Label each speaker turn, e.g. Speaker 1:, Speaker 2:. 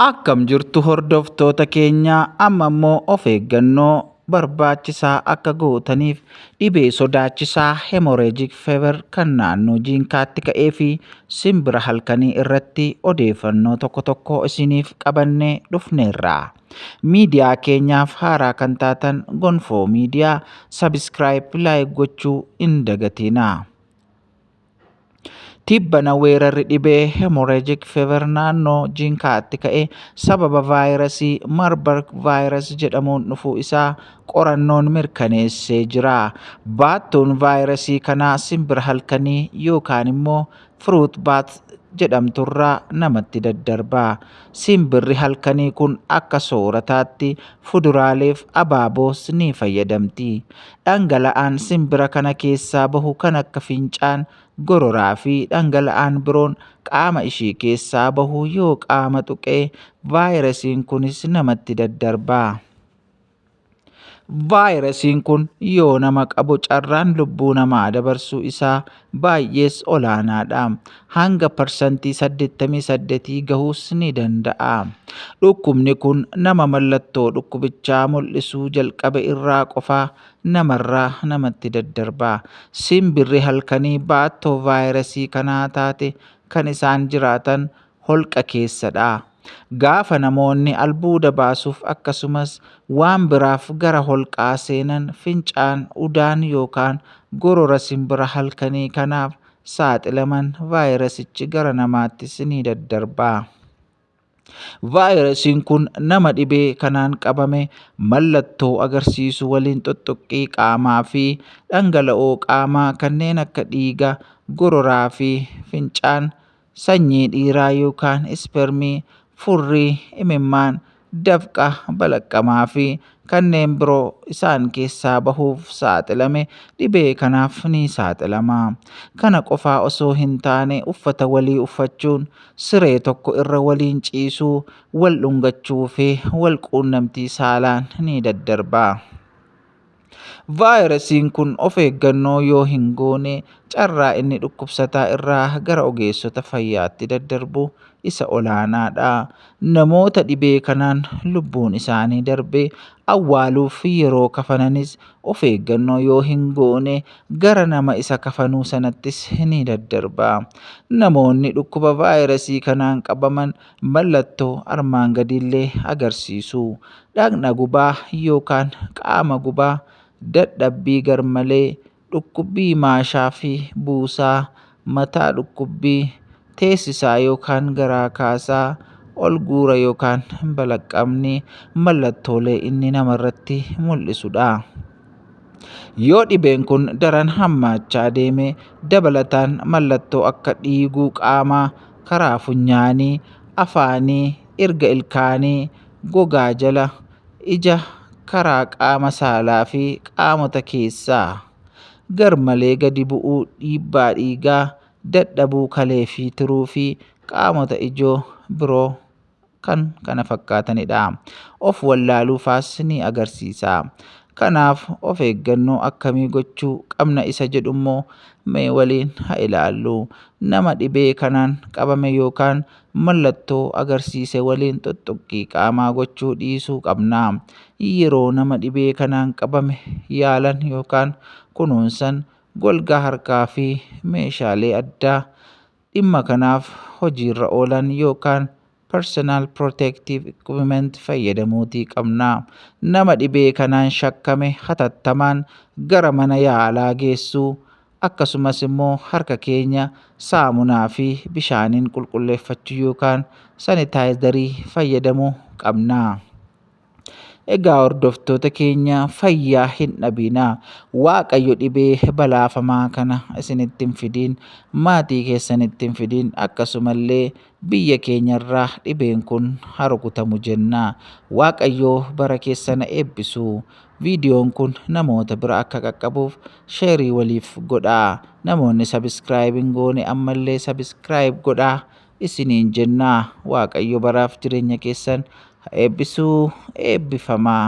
Speaker 1: Akkam jirtu hordoftoota keenya amma immoo of eeggannoo barbaachisaa akka gootaniif dhibee sodaachisaa hemorrhagic fever kan naannoo jiinkaatti ka'ee fi simbira halkanii irratti odeeffannoo tokko tokko isiniif qabannee dhufneerra. Miidiyaa keenyaaf haaraa kan taatan Gonfoo Miidiyaa sabiskiraayip laayik gochuu hin dagatiinaa. Tibbana weerarri dhibee hemorrhagic fever naannoo Jinkaatti ka'e sababa vaayirasii Marburg virus jedhamuun dhufuu isaa qorannoon mirkaneessee jira. Baattuun vaayirasii kanaa simbira halkanii yookaan immoo fruit bat jedhamturraa namatti daddarba. Simbirri halkanii kun akka soorataatti fuduraaleef abaaboos ni fayyadamti. Dhangala'aan simbira kana keessaa bahu kan akka fincaan, gororaa fi dhangala'aan biroon qaama ishii keessaa bahu yoo qaama tuqe vaayirasiin kunis namatti daddarba. Vaayirasiin kun yoo nama qabu carraan lubbuu namaa dabarsuu isaa baay'ees olaanaadha. Hanga parsantii 88 gahuus ni danda'a. Dhukkubni kun nama mallattoo dhukkubichaa mul'isuu jalqabe irraa qofa namarraa namatti daddarba. Simbirri halkanii baattoo vaayirasii kanaa taate kan isaan jiraatan holqa keessa dha. Gaafa namoonni albuuda baasuuf akkasumas waan biraaf gara holqaa seenan fincaan, udaan yookaan gorora simbira halkanii kanaaf saaxilaman vaayirasichi gara namaattis ni daddarba. Vaayirasiin kun nama dhibee kanaan qabame mallattoo agarsiisu waliin xuxxuqqii qaamaa fi dhangala'oo qaamaa kanneen akka dhiiga, gororaa fi fincaan sanyii dhiiraa yookaan ispermii, furrii, imimmaan, dafqa, balaqqamaa fi kanneen biroo isaan keessaa bahuuf saaxilame dhibee kanaaf ni saaxilama. Kana qofaa osoo hin taane uffata walii uffachuun, siree tokko irra waliin ciisuu, wal dhungachuu fi wal quunnamtii saalaan ni daddarba. Vaayirasiin kun of eeggannoo yoo hin goone carraa inni dhukkubsataa irraa gara ogeessota fayyaatti daddarbu isa olaanaadha. Namoota dhibee kanaan lubbuun isaanii darbe awwaaluuf yeroo kafananis of eeggannoo yoo hin goone gara nama isa kafanuu sanattis ni daddarba. Namoonni dhukkuba vaayirasii kanaan qabaman mallattoo armaan gadiillee agarsiisu. Dhaqna gubaa yookaan qaama gubaa, dadhabbii garmalee, dhukkubbii maashaa fi buusaa, mataa dhukkubbii, teessisaa yookaan garaa kaasaa, ol guura yookaan balaqqamni mallattoolee inni namarratti mul'isudha. Yoo dhibeen kun daran hammaachaa deeme dabalataan mallattoo akka dhiiguu qaamaa, karaa funyaanii, afaanii, irga ilkaanii, gogaa jala, ija, karaa qaama saalaa fi qaamota keessaa. Garmalee gadi bu'uu dhiibbaa dhiigaa, dadhabuu kalee fi tiruu fi qaamota ijoo biroo. kan kana fakkaatanidha. Of wallaaluu faas ni agarsiisa. Kanaaf of eeggannoo akkamii gochuu qabna isa jedhu immoo mee waliin ha ilaallu. Nama dhibee kanaan qabame yookaan mallattoo agarsiise waliin xuxxuqqii qaamaa gochuu dhiisuu qabna. Yeroo nama dhibee kanaan qabame yaalan yookaan kunuunsan golgaa harkaa fi meeshaalee addaa dhimma kanaaf hojiirra oolan yookaan personal protective equipment fayyadamuutii qabna. Nama dhibee kanaan shakkame hatattamaan gara mana yaalaa geessuu, akkasumas immoo harka keenya saamunaa fi bishaaniin qulqulleeffachuu yookaan sanitaayizarii fayyadamuu qabna. Egaa hordoftoota keenya fayyaa hin dhabinaa waaqayyo dhibee balaafamaa kana isinitti hin fidiin maatii keessanitti hin fidiin akkasumallee biyya keenyarraa dhibeen kun harukutamu jennaa waaqayyoo bara keessana eebbisuu viidiyoon kun namoota bira akka qaqqabuuf sheerii waliif godhaa namoonni sabiskiraayib hin goone ammallee sabiskiraayib godhaa isiniin jenna. Waaqayyo baraaf jireenya keessan ha eebbisu eebbifamaa.